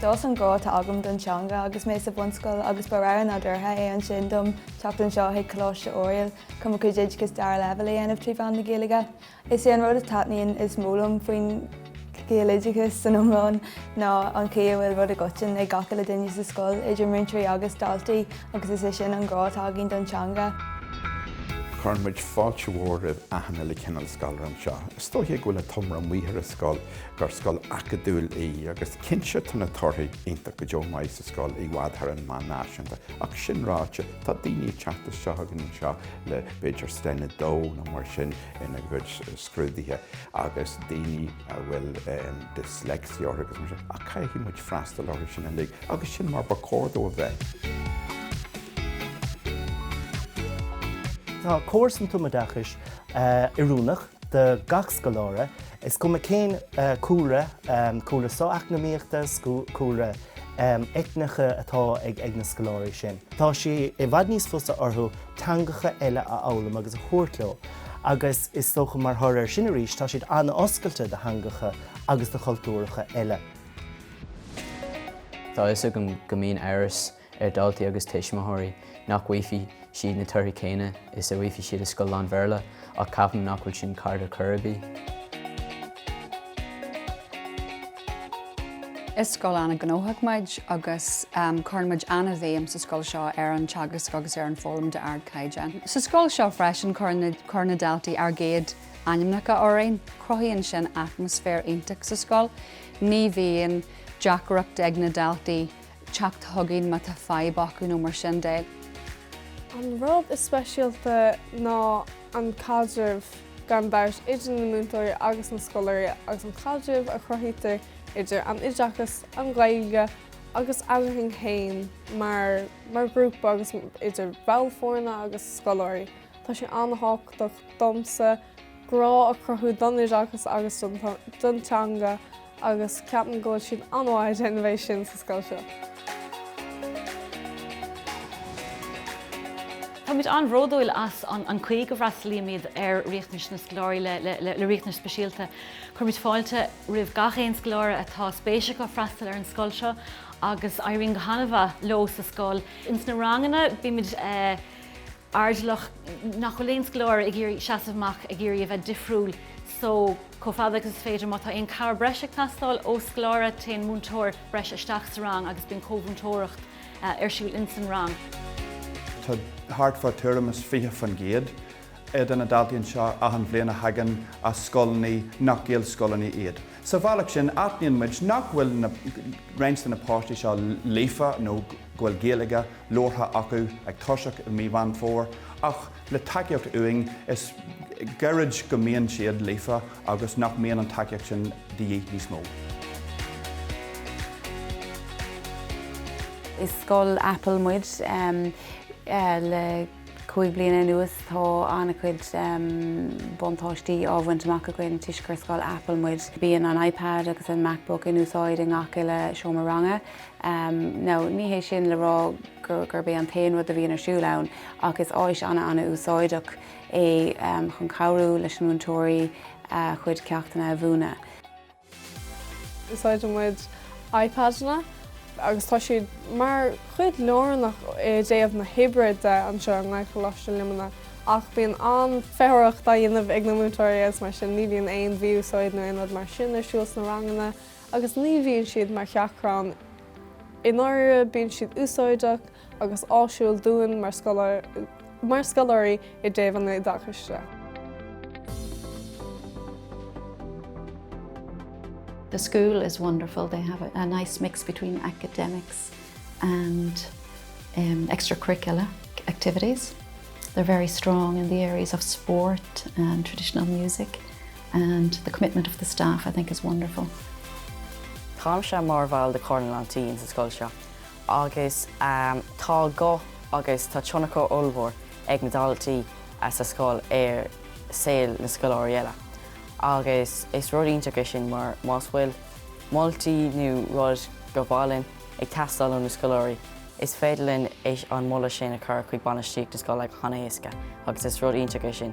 D'fhás an grá atá agam don teanga agus mé sa bhunscoil agus ba rogha nádúrtha é ansin dom teacht anseo chuig Coláiste Oiriall chun mo chuid oideachais dara leibhéal a dhéanamh trí mheán na Gaeilge. Is é an rud a taitníonn is mó liom faoin Ghaeloideachas san iomlán ná an chaoi a bhfuil rud i gcoiteann ag gach uile duine sa scoil, idir múinteoirí agus daltaí, agus is é sin an grá atá againn don teanga. Cuireann muid fáilte mhór roimh achan uile chineál scoláire anseo. Is dóichí go bhfuil an t-iomrá maoth ar an scoil gur scoil acadúil í agus cinnte tá na torthaí iontach go deo maith sa scoil, i bhfad thar an meán náisiúnta ach sin ráite tá daoine ag teacht isteach againn anseo le b'fhéidir Sten 2 nó mar sin ina gcuid scrúduithe agus daoine a bhfuil dyslexia orthu agus mar sin ach caithfidh muid freastal orthu sin uilig agus sin mar ba chóir dó a bheith. Tá córas an tumoideachais oiriúnach do gach scoláire. Is cuma cén cúlra, cúlra socheacnamaíochta, cúlra eitneacha atá ag na scoláirí sin, tá sé i bhfad níos fusa orthu teangacha eile a fhoghlaim agus a thabhairt leo agus is dócha mar thoradh ar sin arís tá siad an-oscailte do theangacha agus do chultúracha eile. Tá a fhios agam go mbíonn amhras ar dhaltaí agus tuismitheoirí nach bhfaighfidh siad na torthaí céanna is a bhfaighfidh siad i scoil lán-Bhéarla ach ceapaim nach bhfuil sin ceart ar chor ar bith. Is scoil an-ghnóthach muid agus cuireann muid an-bhéim sa scoil seo ar an teagasc agus ar an fhoghlaim d'ardchaighdeán. Sa scoil seo freisin cuireann na daltaí ár gcéad ainmneacha orainn. Cruthaíonn sin atmaisféar iontach sa scoil. Ní bhíonn deacracht ag na daltaí teacht chugainn má tá fadhb acu nó mar sin de. An rud is speisialta ná an caidreamh gan dabht idir na múinteoirí agus na scoláirí agus an caidreamh a chruthaítear idir an oideachas, an Ghaeilge agus eadrainn féin mar ghrúpa agus idir baill foirne agus scoláirí. Tá sé an-tábhachtach domsa grá a chruthú don oideachas agus don teanga, agus ceapaim go bhfuil siad an-mhaith ag déanamh é sin sa scoil seo. Táimid an-bhródúil as an chaoi go bhfreastalaímid ar riachtanais na scoláirí le riachtanais speisialta. Cuirimid fáilte roimh gach aon scoláire atá spéis acu freastal ar an scoil seo agus éiríonn go han-mhaith leo sa scoil. Ins na ranganna bímid airdeallach nach bhfuil aon scoláire ag iarraidh seasamh amach ag iarraidh a bheith difriúil so chomh fada agus is féidir má tá aon cabhair breise ag teastáil ó scoláire téann múinteoir breise isteach sa rang agus bíonn comhmhúinteoireacht ar siúl in san rang. Tá thart fá thuairim is 20 fán gcéad de na daltaí anseo achan bhliain a thagann as scoileanna nach Gaelscoileanna iad. Sa bhealach sin aithníonn muid nach bhfuil na roinnt de na páistí seo líofa nó go bhfuil Gaeilge labhartha acu ag toiseacht i mí Mheán Fómhair ach le tacaíocht uainn is gairid go mbíonn siad líofa agus nach mbíonn an tacaíocht sin de dhíth níos mó. Is scoil Apple muid. Le cúig bliana anuas tá an-chuid buntáistí á bhaint amach againn toisc gur scoil Apple muid. Bíonn an iPad agus an MacBook in úsáid i ngach uile seomra ranga. Em no, ní hé sin le rá gur, gurb é an t-aon rud a bhíonn ar siúl ann ach is áis ana ana úsáideach é em chun cabhrú leis na múinteoirí a chuid ceachtanna a mhúineadh. Úsáideann muid iPadanna agus tá siad mar chuid lárnach i dtaobh na hoibre de anseo i nGaelcholáiste Luimnigh ach bíonn an-feitheoireacht á dhéanamh ag na múinteoirí agus mar sin ní bhíonn aon mhí-úsáid nó aon rud mar sin ar siúl sna ranganna. agus ní bhíonn siad mar sheachrán i ndáiríre, bíonn siad úsáideach agus áisiúil dúinn mar scoláirí i dtaobh an oideachais de. The school is wonderful, they have a nice mix between academics and um, extracurricular activities. They're very strong in the areas of sport and traditional music. and the commitment of the staff I think is wonderful. Táimse mar bhall de Comhairle na nDaltaí sa scoil seo agus tá guth agus tá tionchar ollmhór ag na daltaí sa scoil ar saol na scoláirí eile agus is rud iontach é sin mar más bhfuil moltaí nó rud go mhaith linn ag teastáil ó na scoláirí is féidir linn an moladh sin a chur chuig bainistíocht na scoile go han-éasca agus is rud iontach é sin.